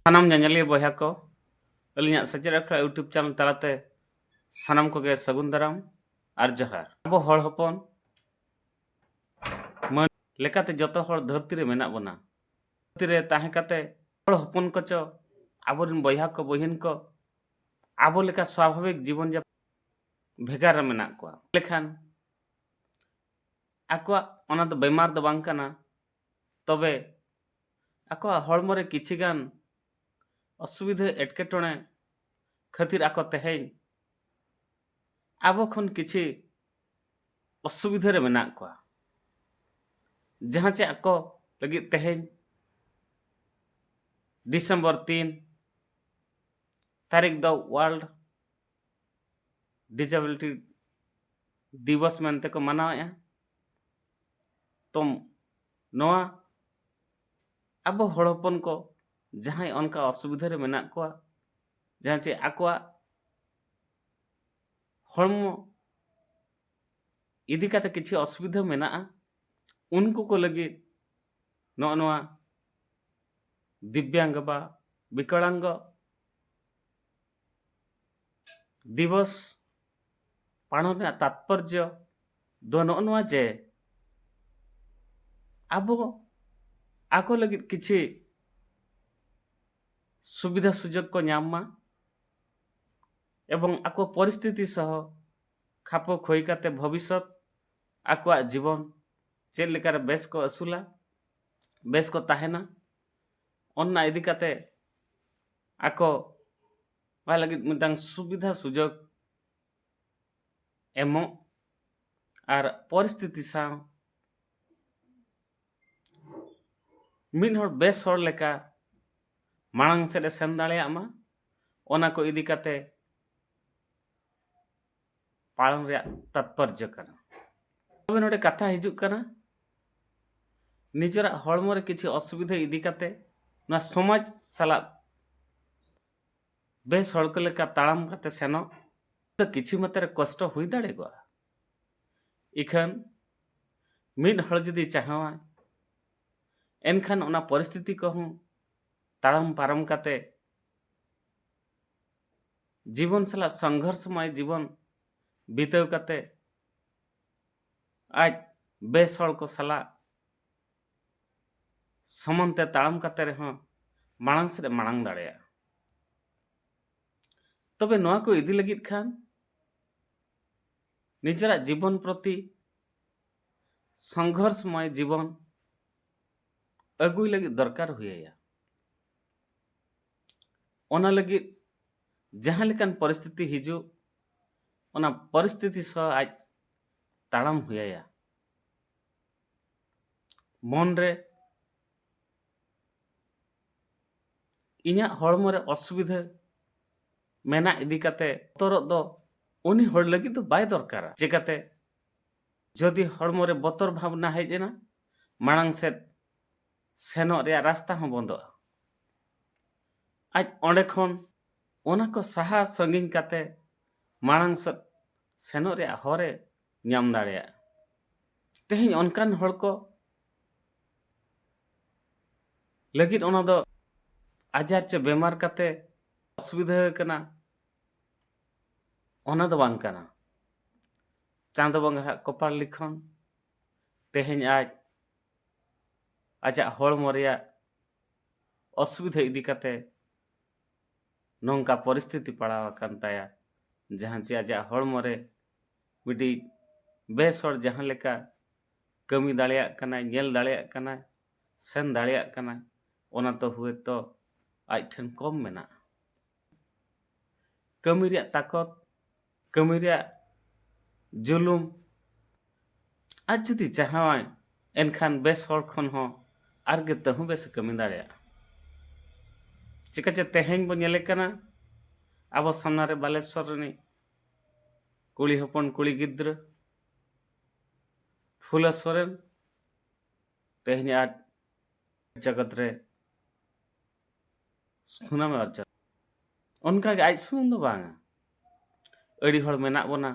ᱥᱟᱱᱟᱢ ᱧᱮᱧᱮᱞᱤᱭᱟᱹ ᱵᱚᱭᱦᱟ ᱠᱚ ᱟᱹᱞᱤᱧᱟᱜ ᱥᱮᱪᱮᱫ ᱟᱠᱷᱲᱟ ᱤᱭᱩᱴᱩᱵᱽ ᱪᱮᱱᱮᱞ ᱛᱟᱞᱟᱛᱮ ᱥᱟᱱᱟᱢ ᱠᱚᱜᱮ ᱥᱟᱹᱜᱩᱱ ᱫᱟᱨᱟᱢ ᱟᱨ ᱡᱚᱦᱟᱨ ᱟᱵᱚ ᱦᱚᱲ ᱦᱚᱯᱚᱱ ᱢᱟᱹᱱ ᱞᱮᱠᱟᱛᱮ ᱡᱚᱛᱚ ᱦᱚᱲ ᱫᱷᱟᱹᱨᱛᱤ ᱨᱮ ᱢᱮᱱᱟᱜ ᱵᱚᱱᱟ ᱫᱷᱟᱹᱨᱛᱤ ᱨᱮ ᱛᱟᱦᱮᱸ ᱠᱟᱛᱮ ᱦᱚᱲ ᱦᱚᱯᱚᱱ ᱠᱚᱪᱚ ᱟᱵᱚᱨᱮᱱ ᱵᱚᱭᱦᱟ ᱠᱚ ᱵᱚᱦᱤᱱ ᱠᱚ ᱟᱵᱚ ᱞᱮᱠᱟ ᱥᱟᱵᱷᱟᱵᱤᱠ ᱡᱤᱵᱚᱱ ᱡᱟᱯᱚᱱ ᱵᱷᱮᱜᱟᱨ ᱨᱮ ᱢᱮᱱᱟᱜ ᱠᱚᱣᱟ ᱞᱮᱠᱷᱟᱱ ᱟᱠᱚᱣᱟᱜ ᱚᱱᱟ ᱫᱚ ᱵᱮᱢᱟᱨ ᱫᱚ ᱵᱟᱝ ᱠᱟᱱᱟ ᱛᱚᱵᱮ ᱟᱠᱚᱣᱟᱜ ᱦᱚᱲᱢᱚ ᱨᱮ ᱠᱤᱪᱷᱤ ᱜᱟᱱ ᱚᱥᱩᱵᱤᱫᱷᱟ ᱮᱴᱠᱮᱴᱚᱬᱮ ᱠᱷᱟᱹᱛᱤᱨ ᱟᱠᱚ ᱛᱮᱦᱮᱧ ᱟᱵᱚ ᱠᱷᱚᱱ ᱠᱤᱪᱷᱤ ᱚᱥᱩᱵᱤᱫᱷᱟ ᱨᱮ ᱢᱮᱱᱟᱜ ᱠᱚᱣᱟ ᱡᱟᱦᱟᱸ ᱪᱮ ᱟᱠᱚ ᱞᱟᱹᱜᱤᱫ ᱛᱮᱦᱮᱧ ᱰᱤᱥᱮᱢᱵᱚᱨ ᱛᱤᱱ ᱛᱟᱹᱨᱤᱠᱷ ᱫᱚ ᱣᱟᱨᱞᱰ ᱰᱤᱡᱟᱵᱤᱞᱤᱴᱤ ᱫᱤᱵᱚᱥ ᱢᱮᱱᱛᱮ ᱠᱚ ᱢᱟᱱᱟᱣᱮᱫᱼᱟ ᱛᱚ ᱱᱚᱣᱟ ᱟᱵᱚ ᱦᱚᱲ ᱦᱚᱯᱚᱱ ᱠᱚ ᱡᱟᱦᱟᱸᱭ ᱚᱱᱠᱟ ᱚᱥᱩᱵᱤᱫᱷᱟ ᱨᱮ ᱢᱮᱱᱟᱜ ᱠᱚᱣᱟ ᱡᱟᱦᱟᱸ ᱪᱮ ᱟᱠᱚᱣᱟᱜ ᱦᱚᱲᱢᱚ ᱤᱫᱤ ᱠᱟᱛᱮ ᱠᱤᱪᱷᱩ ᱚᱥᱩᱵᱤᱫᱷᱟ ᱢᱮᱱᱟᱜᱼᱟ ᱩᱱᱠᱩ ᱠᱚ ᱞᱟᱹᱜᱤᱫ ᱱᱚᱜᱼᱚ ᱱᱚᱣᱟ ᱫᱤᱵᱽᱭᱟᱝᱜᱚ ᱵᱟ ᱵᱤᱠᱚᱲᱟᱝᱜᱚ ᱫᱤᱵᱚᱥ ᱯᱟᱞᱚᱱ ᱨᱮᱱᱟᱜ ᱛᱟᱛᱯᱚᱨᱡᱚ ᱫᱚ ᱱᱚᱜᱼᱚ ᱱᱚᱣᱟ ᱡᱮ ᱟᱵᱚ ᱟᱠᱚ ᱞᱟᱹᱜᱤᱫ ᱠᱤᱪᱷᱤ ᱥᱩᱵᱤᱫᱷᱟ ᱥᱩᱡᱳᱜᱽ ᱠᱚ ᱧᱟᱢ ᱢᱟ ᱮᱵᱚᱝ ᱟᱠᱚ ᱯᱚᱨᱤᱥᱛᱷᱤᱛᱤ ᱥᱚᱦᱚ ᱠᱷᱟᱯᱚ ᱠᱷᱚᱭ ᱠᱟᱛᱮ ᱵᱷᱚᱵᱤᱥᱚᱛ ᱟᱠᱚᱣᱟᱜ ᱡᱤᱵᱚᱱ ᱪᱮᱫ ᱞᱮᱠᱟᱨᱮ ᱵᱮᱥ ᱠᱚ ᱟᱹᱥᱩᱞᱟ ᱵᱮᱥ ᱠᱚ ᱛᱟᱦᱮᱱᱟ ᱚᱱᱟ ᱤᱫᱤ ᱠᱟᱛᱮ ᱟᱠᱚ ᱚᱱᱟ ᱞᱟᱹᱜᱤᱫ ᱢᱤᱫᱴᱟᱝ ᱥᱩᱵᱤᱫᱷᱟ ᱥᱩᱡᱳᱜᱽ ᱮᱢᱚᱜ ᱟᱨ ᱯᱚᱨᱤᱥᱛᱷᱤᱛᱤ ᱥᱟᱶ ᱢᱤᱫ ᱦᱚᱲ ᱵᱮᱥ ᱦᱚᱲ ᱞᱮᱠᱟ ᱢᱟᱲᱟᱝ ᱥᱮᱫ ᱮ ᱥᱮᱱ ᱫᱟᱲᱮᱭᱟᱜ ᱢᱟ ᱚᱱᱟ ᱠᱚ ᱤᱫᱤ ᱠᱟᱛᱮ ᱯᱟᱲᱚᱱ ᱨᱮᱭᱟᱜ ᱛᱟᱛᱯᱚᱨᱡᱚ ᱠᱟᱱᱟ ᱛᱚᱵᱮ ᱱᱚᱰᱮ ᱠᱟᱛᱷᱟ ᱦᱤᱡᱩᱜ ᱠᱟᱱᱟ ᱱᱤᱡᱮᱨᱟᱜ ᱦᱚᱲᱢᱚ ᱨᱮ ᱠᱤᱪᱷᱩ ᱚᱥᱩᱵᱤᱫᱷᱟ ᱤᱫᱤ ᱠᱟᱛᱮ ᱱᱚᱣᱟ ᱥᱚᱢᱟᱡᱽ ᱥᱟᱞᱟᱜ ᱵᱮᱥ ᱦᱚᱲ ᱠᱚ ᱞᱮᱠᱟ ᱛᱟᱲᱟᱢ ᱠᱟᱛᱮ ᱥᱮᱱᱚᱜ ᱫᱚ ᱠᱤᱪᱷᱩ ᱢᱟᱛᱨᱮ ᱠᱚᱥᱴᱚ ᱦᱩᱭ ᱫᱟᱲᱮᱭᱟᱜᱼᱟ ᱤᱠᱷᱟᱹᱱ ᱢᱤᱫ ᱦᱚᱲ ᱡᱩᱫᱤ ᱪᱟᱦᱟᱣᱟᱭ ᱮᱱᱠᱷᱟᱱ ᱚᱱᱟ ᱯᱚᱨᱤᱥᱛᱷᱤᱛᱤ ᱠᱚᱦᱚᱸ ᱛᱟᱲᱟᱢ ᱯᱟᱨᱚᱢ ᱠᱟᱛᱮ ᱡᱤᱵᱚᱱ ᱥᱟᱞᱟᱜ ᱥᱚᱝᱜᱷᱚᱨᱥᱢᱚᱭ ᱡᱤᱵᱚᱱ ᱵᱤᱛᱟᱹᱣ ᱠᱟᱛᱮ ᱟᱡ ᱵᱮᱥ ᱦᱚᱲ ᱠᱚ ᱥᱟᱞᱟᱜ ᱥᱚᱢᱟᱱ ᱛᱮ ᱛᱟᱲᱟᱢ ᱠᱟᱛᱮ ᱨᱮᱦᱚᱸ ᱢᱟᱲᱟᱝ ᱥᱮᱫ ᱢᱟᱲᱟᱝ ᱫᱟᱲᱮᱭᱟᱜᱼᱟ ᱛᱚᱵᱮ ᱱᱚᱣᱟ ᱠᱚ ᱤᱫᱤ ᱞᱟᱹᱜᱤᱫ ᱠᱷᱟᱱ ᱱᱤᱡᱮᱨᱟᱜ ᱡᱤᱵᱚᱱ ᱯᱨᱚᱛᱤ ᱥᱚᱝᱜᱷᱚᱨᱥᱢᱚᱭ ᱡᱤᱵᱚᱱ ᱟᱹᱜᱩᱭ ᱞᱟᱹᱜᱤᱫ ᱫᱚᱨᱠᱟᱨ ᱦᱩᱭᱟᱭᱟ ᱚᱱᱟ ᱞᱟᱹᱜᱤᱫ ᱡᱟᱦᱟᱸ ᱞᱮᱠᱟᱱ ᱯᱚᱨᱤᱥᱛᱷᱤᱛᱤ ᱦᱤᱡᱩᱜ ᱚᱱᱟ ᱯᱚᱨᱤᱥᱛᱷᱤᱛᱤ ᱥᱟᱶ ᱟᱡ ᱛᱟᱲᱟᱢ ᱦᱩᱭ ᱟᱭᱟ ᱢᱚᱱ ᱨᱮ ᱤᱧᱟᱹᱜ ᱦᱚᱲᱢᱚ ᱨᱮ ᱚᱥᱩᱵᱤᱫᱷᱟ ᱢᱮᱱᱟᱜ ᱤᱫᱤ ᱠᱟᱛᱮ ᱵᱚᱛᱚᱨᱚᱜ ᱫᱚ ᱩᱱᱤ ᱦᱚᱲ ᱞᱟᱹᱜᱤᱫ ᱫᱚ ᱵᱟᱭ ᱫᱚᱨᱠᱟᱨᱟ ᱪᱮᱠᱟᱛᱮ ᱡᱩᱫᱤ ᱦᱚᱲᱢᱚ ᱨᱮ ᱵᱚᱛᱚᱨ ᱵᱷᱟᱵᱽᱱᱟ ᱦᱮᱡ ᱮᱱᱟ ᱢᱟᱲᱟᱝ ᱥᱮᱫ ᱥᱮᱱᱚᱜ ᱨᱮᱭᱟᱜ ᱨᱟᱥᱛᱟ ᱦᱚᱸ ᱵᱚᱱᱫᱚᱜᱼᱟ ᱟᱡ ᱚᱸᱰᱮ ᱠᱷᱚᱱ ᱚᱱᱟ ᱠᱚ ᱥᱟᱦᱟ ᱥᱟᱺᱜᱤᱧ ᱠᱟᱛᱮ ᱢᱟᱲᱟᱝ ᱥᱮᱫ ᱥᱮᱱᱚᱜ ᱨᱮᱭᱟᱜ ᱦᱚᱨᱮ ᱧᱟᱢ ᱫᱟᱲᱮᱭᱟᱜᱼᱟ ᱛᱮᱦᱮᱧ ᱚᱱᱠᱟᱱ ᱦᱚᱲ ᱠᱚ ᱞᱟᱹᱜᱤᱫ ᱚᱱᱟ ᱫᱚ ᱟᱡᱟᱨ ᱪᱮ ᱵᱮᱢᱟᱨ ᱠᱟᱛᱮ ᱚᱥᱩᱵᱤᱫᱷᱟ ᱠᱟᱱᱟ ᱚᱱᱟ ᱫᱚ ᱵᱟᱝ ᱠᱟᱱᱟ ᱪᱟᱸᱫᱚ ᱵᱚᱸᱜᱟ ᱦᱟᱜ ᱠᱚᱯᱟᱲ ᱞᱤᱠᱷᱚᱱ ᱛᱮᱦᱮᱧ ᱟᱡ ᱟᱡᱟᱜ ᱦᱚᱲᱢᱚ ᱨᱮᱭᱟᱜ ᱚᱥᱩᱵᱤᱫᱷᱟ ᱤᱫᱤ ᱠᱟᱛᱮ ᱱᱚᱝᱠᱟ ᱯᱚᱨᱤᱥᱛᱷᱤᱛᱤ ᱯᱟᱲᱟᱣ ᱟᱠᱟᱱ ᱛᱟᱭᱟ ᱡᱟᱦᱟᱸ ᱪᱮ ᱟᱡᱟᱜ ᱦᱚᱲᱢᱚ ᱨᱮ ᱢᱤᱫᱴᱤᱡ ᱵᱮᱥ ᱦᱚᱲ ᱡᱟᱦᱟᱸ ᱞᱮᱠᱟ ᱠᱟᱹᱢᱤ ᱫᱟᱲᱮᱭᱟᱜ ᱠᱟᱱᱟᱭ ᱧᱮᱞ ᱫᱟᱲᱮᱭᱟᱜ ᱠᱟᱱᱟᱭ ᱥᱮᱱ ᱫᱟᱲᱮᱭᱟᱜ ᱠᱟᱱᱟᱭ ᱚᱱᱟ ᱛᱚ ᱦᱳᱭᱛᱚ ᱟᱡ ᱴᱷᱮᱱ ᱠᱚᱢ ᱢᱮᱱᱟᱜᱼᱟ ᱠᱟᱹᱢᱤ ᱨᱮᱭᱟᱜ ᱛᱟᱠᱚᱛ ᱠᱟᱹᱢᱤ ᱨᱮᱭᱟᱜ ᱡᱩᱞᱩᱢ ᱟᱡ ᱡᱩᱫᱤ ᱪᱟᱦᱟᱣᱟᱭ ᱮᱱᱠᱷᱟᱱ ᱵᱮᱥ ᱦᱚᱲ ᱠᱷᱚᱱ ᱦᱚᱸ ᱟᱨ ᱜᱮ ᱛᱟᱹᱦᱩ ᱵᱮᱥ ᱮ ᱠᱟᱹᱢᱤ ᱫᱟᱲᱮᱭᱟᱜᱼᱟ ᱪᱤᱠᱟᱹ ᱪᱮ ᱛᱮᱦᱮᱧ ᱵᱚ ᱧᱮᱞᱮ ᱠᱟᱱᱟ ᱟᱵᱚ ᱥᱟᱢᱱᱟ ᱨᱮ ᱵᱟᱞᱮᱥᱚᱨ ᱨᱤᱱᱤᱡ ᱠᱩᱲᱤ ᱦᱚᱯᱚᱱ ᱠᱩᱲᱤ ᱜᱤᱫᱽᱨᱟᱹ ᱯᱷᱩᱞᱟ ᱥᱚᱨᱮᱱ ᱛᱮᱦᱮᱧ ᱟᱡ ᱡᱚᱜᱚᱛ ᱨᱮ ᱥᱩᱱᱟᱢᱮ ᱚᱨ ᱪᱟᱞᱟᱜᱼᱟ ᱚᱱᱠᱟᱜᱮ ᱟᱡ ᱥᱩᱢᱩᱝ ᱫᱚ ᱵᱟᱝᱟ ᱟᱹᱰᱤ ᱦᱚᱲ ᱢᱮᱱᱟᱜ ᱵᱚᱱᱟ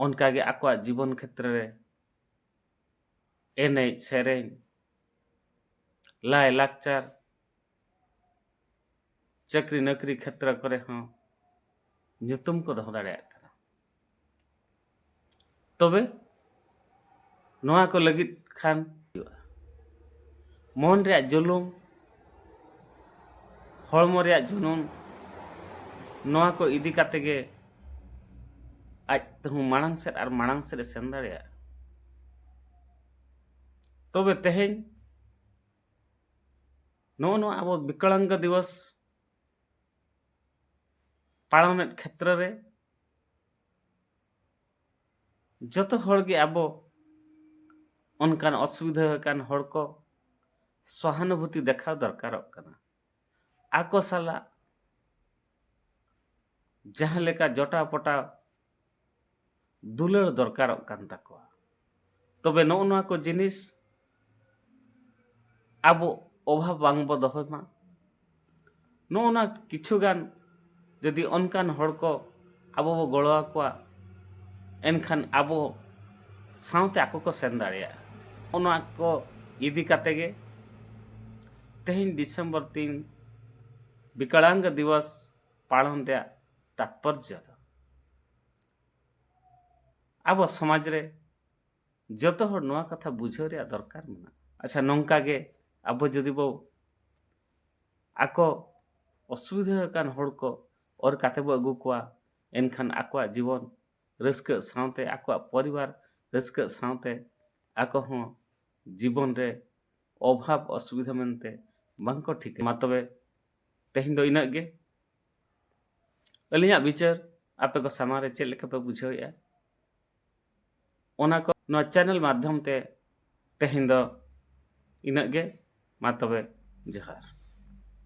ᱚᱱᱠᱟᱜᱮ ᱟᱠᱚᱣᱟᱜ ᱡᱤᱵᱚᱱ ᱠᱷᱮᱛᱨᱮ ᱨᱮ ᱮᱱᱮᱡ ᱥᱮᱨᱮᱧ ᱞᱟᱭᱼᱞᱟᱠᱪᱟᱨ ᱪᱟᱹᱠᱨᱤ ᱱᱚᱠᱨᱤ ᱠᱷᱮᱛᱨᱚ ᱠᱚᱨᱮ ᱦᱚᱸ ᱧᱩᱛᱩᱢ ᱠᱚ ᱫᱚᱦᱚ ᱫᱟᱲᱮᱭᱟᱜ ᱠᱟᱱᱟ ᱛᱚᱵᱮ ᱱᱚᱣᱟ ᱠᱚ ᱞᱟᱹᱜᱤᱫ ᱠᱷᱟᱱ ᱦᱩᱭᱩᱜᱼᱟ ᱢᱚᱱ ᱨᱮᱭᱟᱜ ᱡᱩᱞᱩᱢ ᱦᱚᱲᱢᱚ ᱨᱮᱭᱟᱜ ᱡᱩᱱᱩᱱ ᱱᱚᱣᱟ ᱠᱚ ᱤᱫᱤ ᱠᱟᱛᱮ ᱜᱮ ᱟᱡ ᱛᱮᱦᱚᱸ ᱢᱟᱲᱟᱝ ᱥᱮᱫ ᱟᱨ ᱢᱟᱲᱟᱝ ᱥᱮᱫ ᱮ ᱥᱮᱱ ᱫᱟᱲᱮᱭᱟᱜᱼᱟ ᱛᱚᱵᱮ ᱛᱮᱦᱮᱧ ᱱᱚᱜᱼᱚ ᱱᱚᱣᱟ ᱟᱵᱚ ᱵᱤᱠᱚᱞᱟᱝᱜᱚ ᱫᱤᱵᱚᱥ ᱯᱟᱞᱚᱱᱮᱫ ᱠᱷᱮᱛᱨᱚ ᱨᱮ ᱡᱚᱛᱚ ᱦᱚᱲ ᱜᱮ ᱟᱵᱚ ᱚᱱᱠᱟᱱ ᱚᱥᱩᱵᱤᱫᱷᱟ ᱟᱠᱟᱱ ᱦᱚᱲ ᱠᱚ ᱥᱚᱦᱟᱱᱩᱵᱷᱩᱛᱤ ᱫᱮᱠᱷᱟᱣ ᱫᱚᱨᱠᱟᱨᱚᱜ ᱠᱟᱱᱟ ᱟᱠᱚ ᱥᱟᱞᱟᱜ ᱡᱟᱦᱟᱸ ᱞᱮᱠᱟ ᱡᱚᱴᱟᱣ ᱯᱚᱴᱟᱣ ᱫᱩᱞᱟᱹᱲ ᱫᱚᱨᱠᱟᱨᱚᱜ ᱠᱟᱱ ᱛᱟᱠᱚᱣᱟ ᱛᱚᱵᱮ ᱱᱚᱜᱼᱚ ᱱᱚᱣᱟ ᱠᱚ ᱡᱤᱱᱤᱥ ᱟᱵᱚ ᱚᱵᱷᱟᱵᱽ ᱵᱟᱝᱵᱚ ᱫᱚᱦᱚᱭ ᱢᱟ ᱱᱚᱜᱼᱚ ᱱᱚᱣᱟ ᱠᱤᱪᱷᱩᱜᱟᱱ ᱡᱩᱫᱤ ᱚᱱᱠᱟᱱ ᱦᱚᱲ ᱠᱚ ᱟᱵᱚ ᱵᱚ ᱜᱚᱲᱚ ᱟᱠᱚᱣᱟ ᱮᱱᱠᱷᱟᱱ ᱟᱵᱚ ᱥᱟᱶᱛᱮ ᱟᱠᱚ ᱠᱚ ᱥᱮᱱ ᱫᱟᱲᱮᱭᱟᱜᱼᱟ ᱚᱱᱟ ᱠᱚ ᱤᱫᱤ ᱠᱟᱛᱮ ᱜᱮ ᱛᱮᱦᱮᱧ ᱰᱤᱥᱮᱢᱵᱚᱨ ᱛᱤᱱ ᱵᱤᱠᱟᱲᱟᱝᱜᱚ ᱫᱤᱵᱚᱥ ᱯᱟᱞᱚᱱ ᱨᱮᱭᱟᱜ ᱛᱟᱛᱯᱚᱨᱡᱚ ᱫᱚ ᱟᱵᱚ ᱥᱚᱢᱟᱡᱽ ᱨᱮ ᱡᱚᱛᱚ ᱦᱚᱲ ᱱᱚᱣᱟ ᱠᱟᱛᱷᱟ ᱵᱩᱡᱷᱟᱹᱣ ᱨᱮᱭᱟᱜ ᱫᱚᱨᱠᱟᱨ ᱢᱮᱱᱟᱜᱼᱟ ᱟᱪᱪᱷᱟ ᱱᱚᱝᱠᱟ ᱜᱮ ᱟᱵᱚ ᱡᱩᱫᱤ ᱵᱚ ᱟᱠᱚ ᱚᱥᱩᱵᱤᱫᱷᱟ ᱟᱠᱟᱱ ᱦᱚᱲ ᱠᱚ ᱚᱨ ᱠᱟᱛᱮ ᱵᱚ ᱟᱹᱜᱩ ᱠᱚᱣᱟ ᱮᱱᱠᱷᱟᱱ ᱟᱠᱚᱣᱟᱜ ᱡᱤᱵᱚᱱ ᱨᱟᱹᱥᱠᱟᱹᱜ ᱥᱟᱶᱛᱮ ᱟᱠᱚᱣᱟᱜ ᱯᱚᱨᱤᱵᱟᱨ ᱨᱟᱹᱥᱠᱟᱹᱜ ᱥᱟᱶᱛᱮ ᱟᱠᱚ ᱦᱚᱸ ᱡᱤᱵᱚᱱ ᱨᱮ ᱚᱵᱷᱟᱵᱽ ᱚᱥᱩᱵᱤᱫᱷᱟ ᱢᱮᱱᱛᱮ ᱵᱟᱝ ᱠᱚ ᱴᱷᱤᱠᱟᱹ ᱢᱟ ᱛᱚᱵᱮ ᱛᱮᱦᱮᱧ ᱫᱚ ᱤᱱᱟᱹᱜ ᱜᱮ ᱟᱹᱞᱤᱧᱟᱜ ᱵᱤᱪᱟᱹᱨ ᱟᱯᱮ ᱠᱚ ᱥᱟᱢᱟᱝ ᱨᱮ ᱪᱮᱫ ᱞᱮᱠᱟ ᱯᱮ ᱵᱩᱡᱷᱟᱹᱣᱮᱜᱼᱟ ᱚᱱᱟ ᱠᱚ ᱱᱚᱣᱟ ᱪᱮᱱᱮᱞ ᱢᱟᱫᱽᱫᱷᱚᱢ ᱛᱮ ᱛᱮᱦᱮᱧ ᱫᱚ ᱤᱱᱟᱹᱜ ᱜᱮ ᱢᱟ ᱛᱚᱵᱮ ᱡᱚᱦᱟᱨ